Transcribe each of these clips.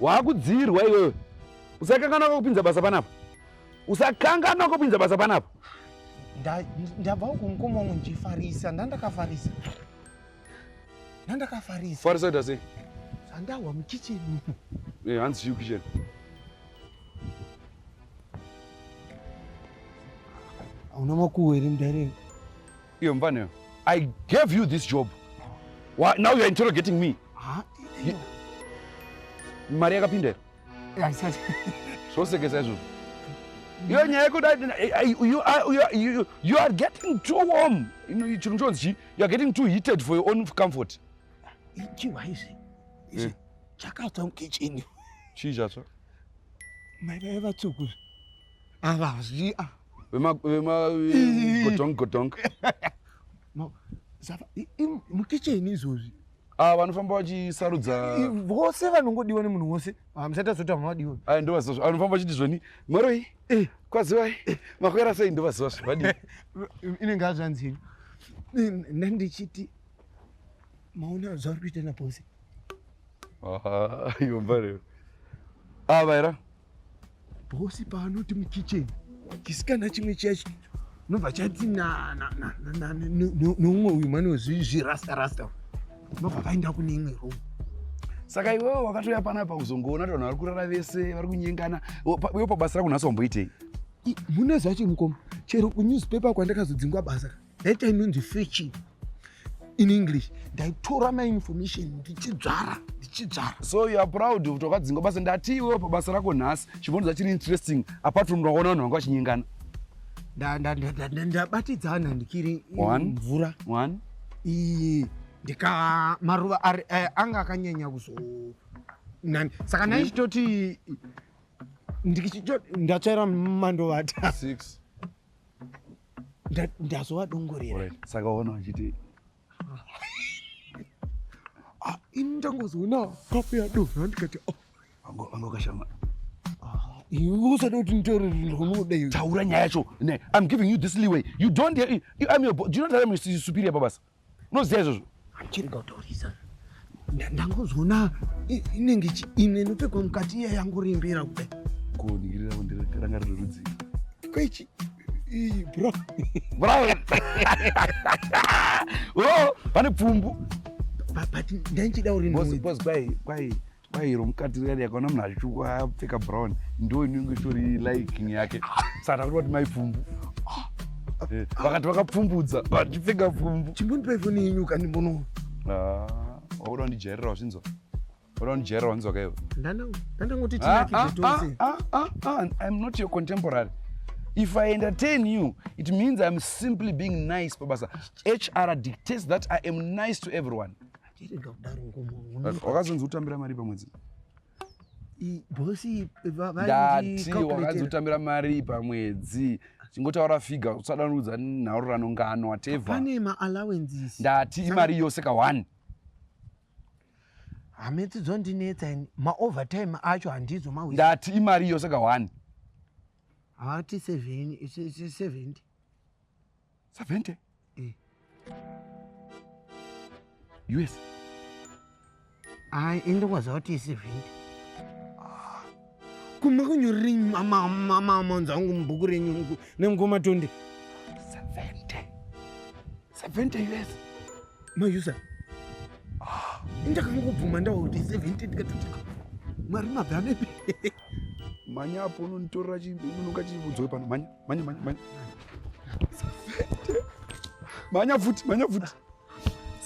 waakudziirwa iwewe usakanganwa kokupinza basa panapa usakanganwa kopinza basa panapa ndabva uku mukoma wangu ndichifarisa ndandakafarisa ndandakafarisa farisa kuita sei andahwa mukicheni eh, hanzi chiu kicheni hauna makuhweri mudarei Iyo mvana I gave you this job. Why, now you're interrogating me. Ah, you, mari yakapinda here? Haisati. Zvosekesa izvozvo. Iyo nyaya yekuda you are getting too warm. Chinhu chonzi chii? You are getting too heated for your own comfort. Chiwa izvi. Izvi eh. chakatswa mukitchen. Chii chatswa? Mari yaivatsuku. avazvia vemagodong godong mukicheni izvozvi ah, vanofamba vachisarudza vose vanongodiwa nemunhu wose ah, musati azoti vamavadiwa ah, ndovazivazvo vanofamba vachiti zvoni mwaroi eh. kwazivai eh. makwera sei ndovazivazvo vadii inenge azvanzii ndandichiti maona zvauri kuita napose yomba rero ava era Bosi paanoti mukitchen chisikana chimwe chiya nobva chati neumwe uyu mane wezvirasta rasta nobva vaenda kune imwe room saka iwewe wakatouya panapa kuzongoona vanhu vari kurara vese vari kunyengana iwe pabasa rako nhasi wamboitei mune zvacho mukoma chero kunewspaper kwandakazodzingwa basa that inonzi fetching in english ndaitora mainformation ndichidzvara ndichidzvara so youare proud kuti wakadzinga basa ndati iwewo pabasa rako nhasi chibvonza chiri interesting apart from ndaona vanhu vanga vachinyengana ndabatidzana ndikiri mvura one iyi ndika maruva eh, anga akanyanya kuzo nani saka nai chitoti ndatsvaira mandovata ndazovadongorera right. saka ona vachiti ah, ini ndangozoona kapu yadovha ndikati oh. anga ukashama ah, iwe usada kuti nditaure ndinoda iwe taura nyaya yacho ne i'm giving you this leeway you don't hear, you, i'm your do you not tell me superior pabasa unoziva izvozvo chirega kutaurisa ndangozoona inenge chiine inopfekwa mukati iya yangorimbira kudai koningirira kundiranga riri rudzii kwechi bro brian o oh, pane pfumbu but ndainchida uri kwai kwai bairo mukati riyari yakaona munhu achitsvuku apfeka brown ndo inenge itori liking yake saka kuti vati maipfumbu eh, vakati vakapfumbudza vachipfeka pfumbu chimbondipa ifoni yenyu kani mbono ah, wakuda kundijairira wazvinzwa wakuda kundijairira wanzwa kaivo ndandangoti ah, tinakizvitose ah, im not your contemporary if i entertain you it means im simply being nice pabasa hr dictates that i am nice to everyone Tirega kudaro ngomo. Wakazonzi utambira mari pamwedzi? Bosi ndati wakazonzi utambira mari pamwedzi chingotaura figa usadanudza nhaururano ngano whatever. Pane ma allowances. Ndati imari yose ka one hametsi dzondinetsa ini maovertime acho handizo mawi ndati imari iyo saka one hati seventy 70 mm. us ai ende kwaziva kuti i 70 ah. kuma kunyorerei mamanzi angu mubhuku renyu nemukoma tonde 70 70 us mayusa ah. ndakangobvuma ndawa kuti 70 ndikatoti mari mabva anepi mhanya apo unonitorera unoka chivudzo pano mhanya manya manya manya manya futi manya futi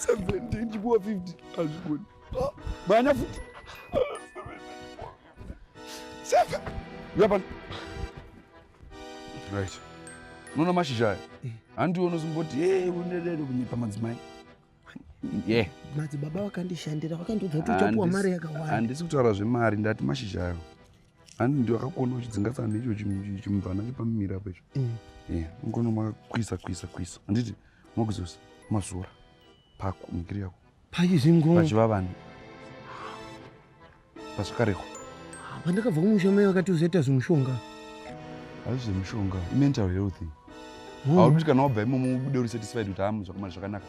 17 chipuwa 50 azvigoni manya futi seven uya pano right unoona mashizha aya handiwo unozimboti hey unedero kunyepa madzimai madzibaba vakandishandira vakandiudza kuti uchapuwa mari yakawanda handisi kutaura zvemari ndati mashizha ayo handi ndiwakakuona uchidzingasana neicho chimubvana chepamimira apo icho ungono mm. makakwisa kwisa kwisa handiti mokuzosa mazora pako mikiri yako pachizingopachivavani Pasvakareko. Ah, Pandakabva kumusha mai vakati usaita zvimushonga. Hazvi zvemushonga, imental health. Hmm. Hauti kana wabva imomo ubude uri satisfied kuti hamu zvakamari zvakanaka.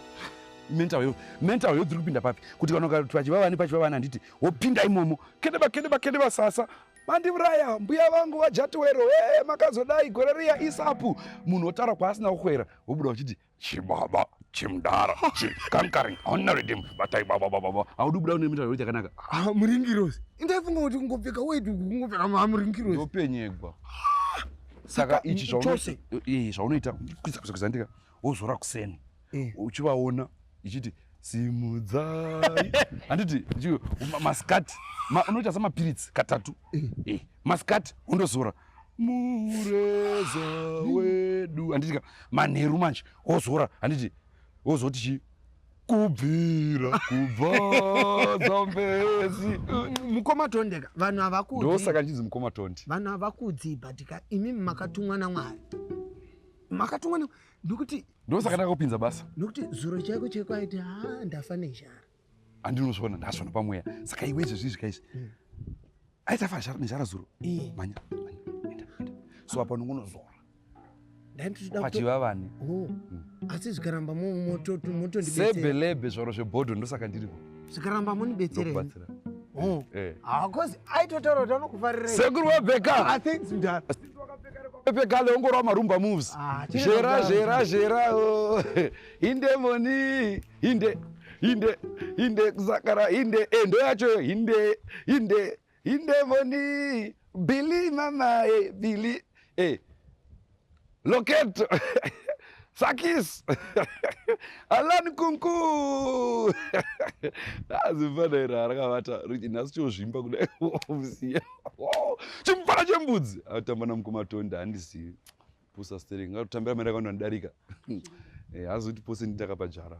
Mental health, mental health iri kupinda papi? Kuti kana ukati pachiva vani pachiva vani handiti wopinda imomo. Kedeba kedeba kedeba sasa. Mandiuraya mbuya vangu vajatiwero hey, makazodai gore riya isapu munhu otaura kwaasina kukwera wobuda uchiti chibaba chimdara chikankaring hauna redim batai baba baba haudi kubuda une mitauro chakanaka ah, muringirosi indaifunga kuti kungopfeka weti kungopfeka mamuringirosi ndopenyegwa saka ichi chose eh, zvaunoita kuzakuzakuzandika wozora kuseni eh. uchivaona ichiti simudzai handiti maskati unoita samapiritsi katatu eh. maskati undozora mureza wedu handitika manheru manje ozora handiti ozoti chii kubvira kubva zambezi mukoma tondeka vanhu havakudzi ndosaka ndichinzi mukoma tondi vanhu havakudzi bhatika imi makatumwa namwari makatumwa nekuti ndosaka ndakakupinza basa nokuti zuro chaiko chaiko aiti ha ndafa nezhara andinozviona ndazviona pamweya saka iwe izvezvi izvi kaizvi mm. aitafa nezhara zuro mm. manya so apa unongonozora pachiva vani oh. mm. asi zvikaramba motondisebelebe zvaro zvebhodho ndosaka ndiripo zvikaramba monibetserebatsira oh. eh, eh. hakozi ah, aitotaura kuti anokufarira sekuru wabheka pekale ongorwa marumba moves ah, zvera zvera zvera oh. indemoni hinde hinde hinde kusakara hinde e eh, ndo yacho hinde hinde hinde voni bili mama e eh, bili e eh. loketo sakis alan kunku azimfana iro arakavata riti nhasi chozvimba kudai omusiya chimufana chembudzi atamba namukumatonda handizivi Pusa stereki ngatotambira mari yakawanda ndidarika. Eh, hazi kuti pose nditakapa jara.